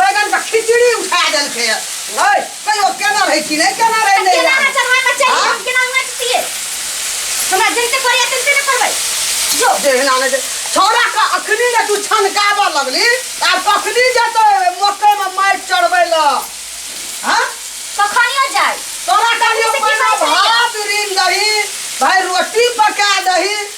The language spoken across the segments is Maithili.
बैगन का खिचड़ी उठा देल के ओए कहियो केना रही कि नहीं केना रही नहीं केना ना चढ़ाए बच्चा हाँ? हम केना उंगली दिए हमरा जैसे करिया तैसे न करबै जो देहना ने छोरा का अखनी ने तू छनकाबा लगली आ कखनी जतो मकई में मार चढ़बै ल हां कखनियो जाय तोरा का लिए भात रीन दही भाई रोटी पका दही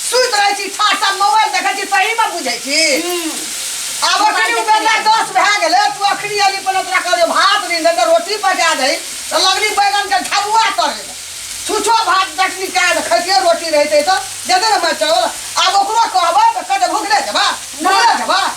सुति रहै छी छाट छाट मोबाइल देखै छी सहीमे बुझै छी आब अखनी उ बेला दस भए गेलै तू अखनी अली पहिले तोरा कहलियो भात नीन दे तऽ रोटी पका दही तऽ लगली बैगन के झबुआ तरे लए छुछो भात चटनी कए दे खैतियै रोटी रहितै तऽ देतै ने मारि चावल आब ओकरो कहबै तऽ कहतै भुखले जेबा भुखले जेबा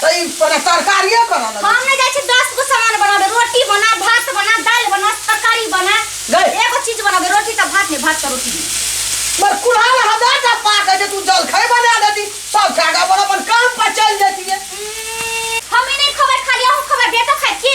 तऽ ई पने तरकारिए करऽ लगै हम नहि जाइ छी दस गो सामान बनाबे रोटी बना भात बना दालि बना तरकारी बना गई। एगो चीज बनाबे रोटी तऽ भात नहीं भात तऽ रोटी नहीं मर कुल्हा ला हमे टा पाके जे तू जलखै बना देती सब खा के अपन अपन काम पर चल जैतिए हमें नहीं खबर खाली अहू खबर बेटो खाए की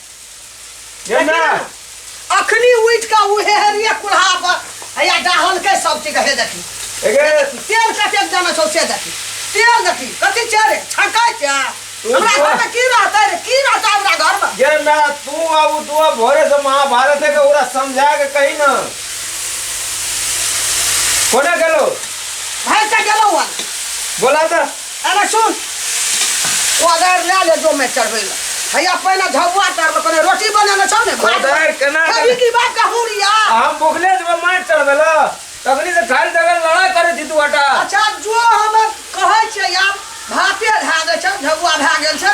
हे ना अखनी उठि कऽ उहे हरिया कुल्हा पर हैया डाहलकै सब चीज हे देखी एगे तेल कते जाना छौ से देखी तेल देखी कथी छै रे छटै छै तू हमरा जो। घरमे की रहतै रे की रहतै हमरा घरमे जे ना तू आ उ दुआ भोरे से महाभारत के ओरा समझा के कही ना कोना गेलो भाइ से गेलौ हन बोला त अरे सुन कोदारि लए ले जो मैं चढ़बै लए हैया पहिने झबुआ चढ़लो कने रोटी बनेने छौ ने भात कोदारि केना खेबही चढ़- की बात का हुरिया आ हम भुखले जेबै माटि चढ़बै लए तखनी से खाली जगह लड़ाइ करै छी तू हटा अच्छा जो हम कहै छियै आब भाते भए गेल छै झबुआ भए गेल छै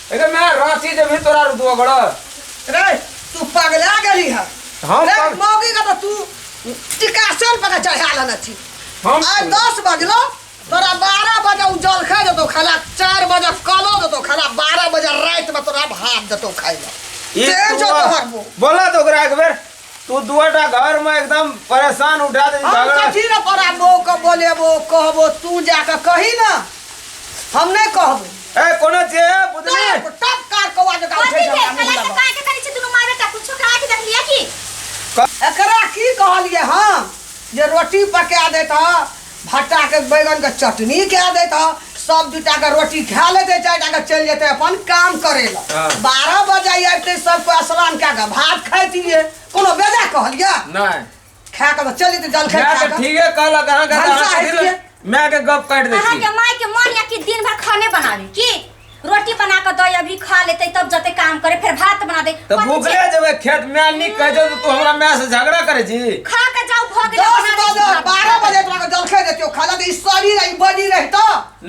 अरे मैं रांची जब ही तोरा रुदवा गड़ा रे तू पगला गेली है हम रे पग- मौगी का तो तू टिकासन पर चढ़ा लेना छी हम आय दस बजलो तोरा बारह बजे उ जलखा देतो खाला चार बजे कलो देतो खाला बारह बजे रात में तोरा भात देतो खाइला ई तेल जो तोहर मुंह। बोला तो ओकरा एक बेर तू दुआटा घर में एकदम परेशान उठा दे हम झगड़ा कथी न कराबो के बोलेबो कहबो तू जाके कही ना हम नहीं कहबो ए कोनो जे है बुझली टप टप कार कौआ जका उठे कथी झगड़ा भेल मुँह साला के लगा। काहे के करै छी दुनू माय बेटा कुछो करा के देख लिया की एकरा की कहलिए हम जे रोटी पका देत ह भट्टा के बैगन के चटनी कह देत ह सब दूटा के रोटी खा लेते चारिटा के चल जेते अपन काम करे ला हाँ। बारह बजे आबते सब कोई स्नान कए के भात खाइतिए कोनो बेजा कहलिए नहीं खा के तो चल जेते जल खा मैं के के ठीके कहला कहां का भलसा है कहां ये। मैं के गप काट दे अहाँ के माय के मन या कि दिन भर खाने बनावे की रोटी बना के दे अभी खा लेते तब जते काम करे फिर भात बना दे तो कथी भूखले छै? जब खेत में आनी कह दे तो तू हमरा माय से झगड़ा करे छी खा के जाओ भग दस बजे जाओ बारह बजे तोरा के जलखे देतियो खाजा के ई शरीर ई बॉडी रहत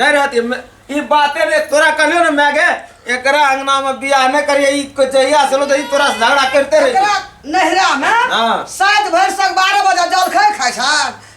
नहीं रहती मैं- ई बाते रे तोरा कहलियो ना मैं के एकरा अंगना में बियाह न करिए ई को जहिया से लो तो ई तोरा से झगड़ा करते रही एकरा नहरा में हाँ। सात भरि तक बारह बजे जलखे खाइ छान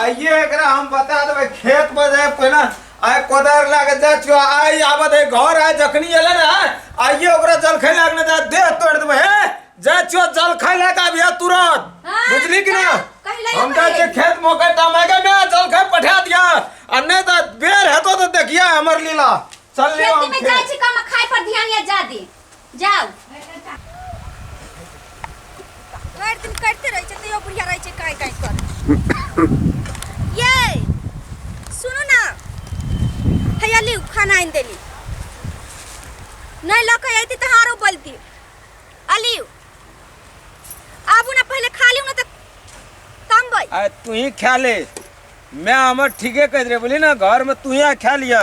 आइए एकरा हम बता देबै खेत पर जाए पहिने आइ कोदार लए के जाइ छियो आइ आबत है घर आइ जखनी एलै ने आइए ओकरा जलखै लए के ने जा देह तोड़ि देबै हे जाइ छियो जलखै लए के आबिया तुरंत हाँ, बुझली कि ना जा, कहि लइयो हम जाइ छियै पहिले। खेत मोकै टमाके मे जलखै पठा दिया आ नहि तऽ बेर हेतो तऽ देखिया हमर लीला चल लियो खेती हम में जाइ खेत छी कम खाए पर ध्यान या जादी जाउ भरि दिन करिते रहै छै तैयो बुढ़िया रहै छै काँइ काँइ कर ये सुनू ना हैया लिउ खाना आनि देली नहि लऽ कऽ अयती तऽ हारो बोलती अलिउ आबू ना पहिले खा लिउ ना तऽ तमबै आ तू ही खा ले मैं हमर ठीके कह रहे बोली ना घर में तू ही खा लिया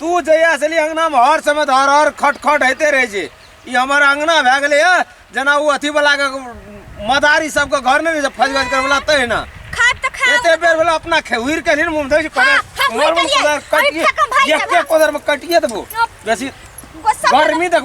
तू जहिया से अंगना में हर समय धर हर खट खट होते रहे छै ई हमर अंगना भए गेलै है जेना ओ अथी वाला के मदारी सबके घर में जे फज गज करवला तहिना खाट त खा एते बेर वाला अपना खेहुर के नहीं मुंह धै छै हाँ, हाँ, कोदर उमर में उमर कोदर कटिए अभी फेकम भाई एक के के कोदर में कटिए देबो बेसी गुस्सा गर्मी देख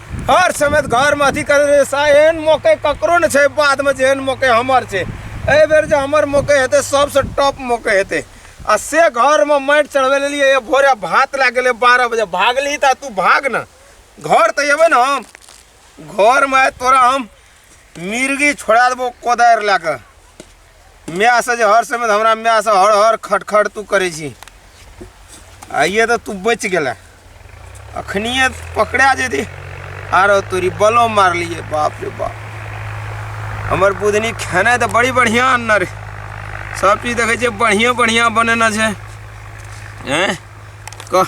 हर समय घरमे अथी करैत रहै एहन मौके ककरो नहि छै बादमे जे एहन मौके हमर छै एहि बेर जे हमर मौके हेतै सबसँ टॉप मौके हेतै आ से घरमे माटि चढ़बै लेलियै भोरे भात लए गेलै बारह बजे भागली तऽ तू भाग ने घर तऽ अयबै ने हम घरमे तोरा हम मिर्गी छोड़ा देबो कोदारि लए कऽ मायसँ जे हर समय हमरा मायसँ हर हर खट खट तू करै छी आइए तऽ तू बचि गेलै अखनिए पकड़ा जेती आरो तोरी बलो मारलिए बाप रे बाप हमर बुधनी खेनाइ तऽ बड़ी बढ़िआँ अन्न रे सब चीज देखै छियै बढ़िआँ बढ़िआँ बनेने छै एँ कह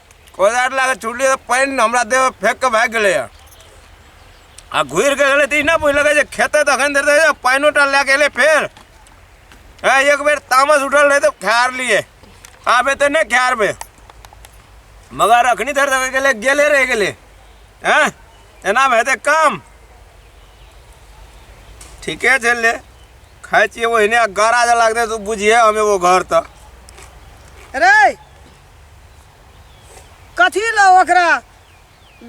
कोदार लगा छुटली तऽ पानि हमरा देह फेंक के भागि गेलै हँ। आ घुरि के गेलै तऽ ई नहि बुझलकै जे खेते तखन देर तक पानिओ टा लए के एलै फेर हँ एक बेर तामस उठल रहै तऽ खार लिए आबे तऽ नहि खारबे मगर अखनी धर तक गेलै गेले रहि गेलै हँ एना हेतै काम ठीके छै ले खाइ छियै ओहिने आ गारा जे लागतै तऽ बुझिहे हम एगो घर तऽ रे कथी लए ओकरा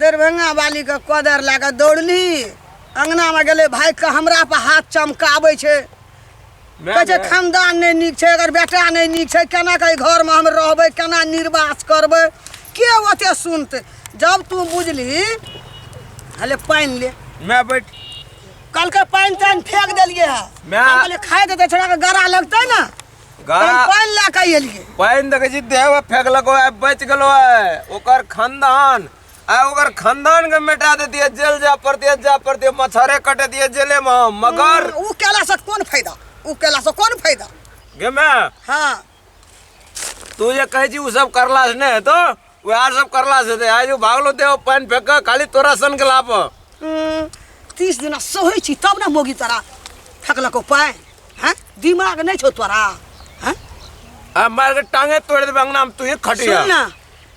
दरभंगा वालीके कोदर लए कऽ दौड़ली अङ्गनामे गेलै भागि कऽ हमरा पर हाथ चमकाबै छै कहै छै खानदान नहि नीक छै अगर बेटा नहि नीक छै केना कऽ एहि घरमे हम रहबै केना निर्वास करबै के ओते सुनतै जब तू बुझली हले पानि ले मैं बैठ कलके पानि तानि फेंक देलियै है मैं- हम कहलियै खाए देतै छोड़ा के गड़ा लगतै ने गा हम पानि लए कऽ एलियै पानि देखे छी देह में फेंकलको है बच गेलो है ओकर खानदान आ ओकर खानदान के मिटा दे दिए जेल जा पड़ते जा पड़ते मच्छरे कटे दिए जेले में हम। मगर उ केला से कोन फायदा उ केला से कोन फायदा गे मैं हाँ तू जे कहे छी उ सब करला से नहीं है तो वैर सब करला से ते आजू भागलो ते ओ पानी फेंक के खाली तोरा सन के लाप हम्म, तीस दिना सहै छी तब ने मोगी तोरा फेकलको पानि हैं दिमाग नहि छौ तोरा हैं आ मार के टांगे तोड़ दे बंगना में तू ही खटिया सुन ना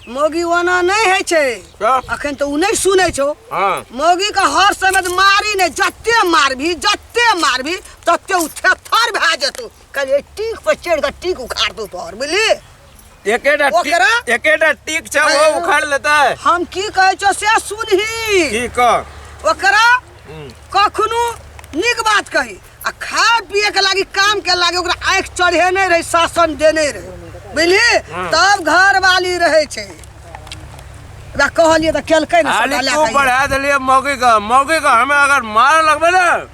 मोगी ओना नहि होइ छै क्या? अखन तऽ ओ नहि सुनै छौ हां मोगी के हर समय तऽ मारी नहि जते मारबी जते मारबी तते ओ थेथर भए जेतौ कल टीक पर चढ़ि कऽ टीक उखाड़ दू तोहर बुझली एकेटा टी- ओकरा? एकेटा टीक छै ओ उखाड़ लेतै हम की कहै छौ से सुनही की कह ओकरा कखनो नीक बात कही आ खाए पिए के लागी काम के लागी ओकरा आँखि चढ़ेने रही शासन देने रही बुझली तब घर वाली रहै छै ओकरा कहलियै तऽ केलकै ने आली सदा लए तू कऽ बढ़ा देलिए मौगी का मौगी का हमें अगर मार लगबे ना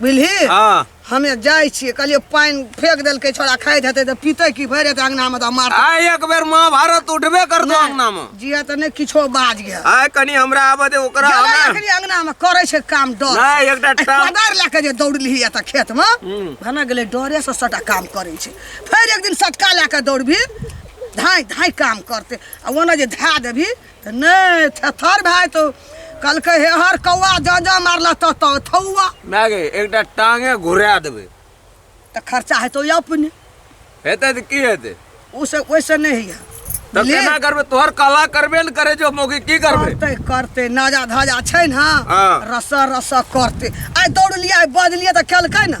बुझली हाँ हमे जाइ छियै कहलियै पानि फेंक देलकै छोड़ा खाइत हेतै तऽ पीतै की भरि हेतै अङ्गनामे तऽ मार आ एक बेर महाभारत उठबे करतो अंगना में जिया तऽ नहि किछो बाज गेल आय कनी हमरा आबे दे ओकरा गेलै हमरा एखनी अङ्गनामे करै छै काम डर नहि एकटा आ टाम कोदारि लए कऽ जे दौड़ली एतऽ खेतमे हूँ। भने गेलै डरेसँ सटा काम करै छै फेर एक दिन सटका लए कऽ दौड़बी धाँइ धाँइ काम करतै आ ओना जे धए देबही तऽ नहि थेथर भए जेतौ कहलकै हे हर कौआ जँ जँ मारला तऽ तऽ थौआ माय गे एकटा टांगे घुरा देबै तऽ खर्चा हेतौ या अपने हेतै तऽ की हेतै ओसे ओहिसँ नहि होइए तऽ बुझलियै? केना करबै तोहर कला करबे ने करे जो मौगी की करबै करते करते नाजा धाजा छै ने हाँ। रस रस करते आइ दौड़लियै आइ बजलियै तऽ केलकै ने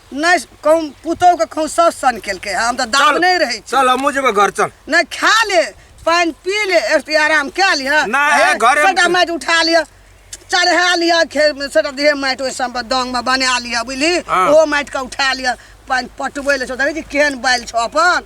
नहि कहूँ पुतोके कहूँ सब सन केलकै है हम तऽ दाब चल। नहि रहै छी चल हमहूँ जेबै घर चल नहि खा ले पानि पी ले एक रत्ती आराम कए लिह नहि, हे, घरे- सबटा माटि उठा लिह चढ़ा लिह खेत मे सबटा देह माटि ओहि सब दंग मे बना लिह बुझली हँ। ओ माटि के उठा लिह पानि पटबै ले छौ देखै छी केहन बालि छौ अपन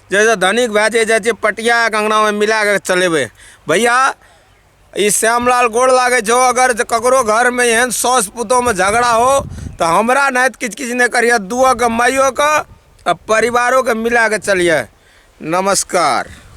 जैसे धनिक भए जाइ जाइ छै पटियाके अङ्गनामे मिला कऽ चलेबै भैया ई श्यामलाल गोड़ लागै छौ अगर जे ककरो घरमे एहन साउस पुतोहमे झगड़ा हो तऽ हमरा नहि तऽ किछु किछु नहि करिहे दुओके माइयोके आ परिवारोके मिला कऽ चलिहे नमस्कार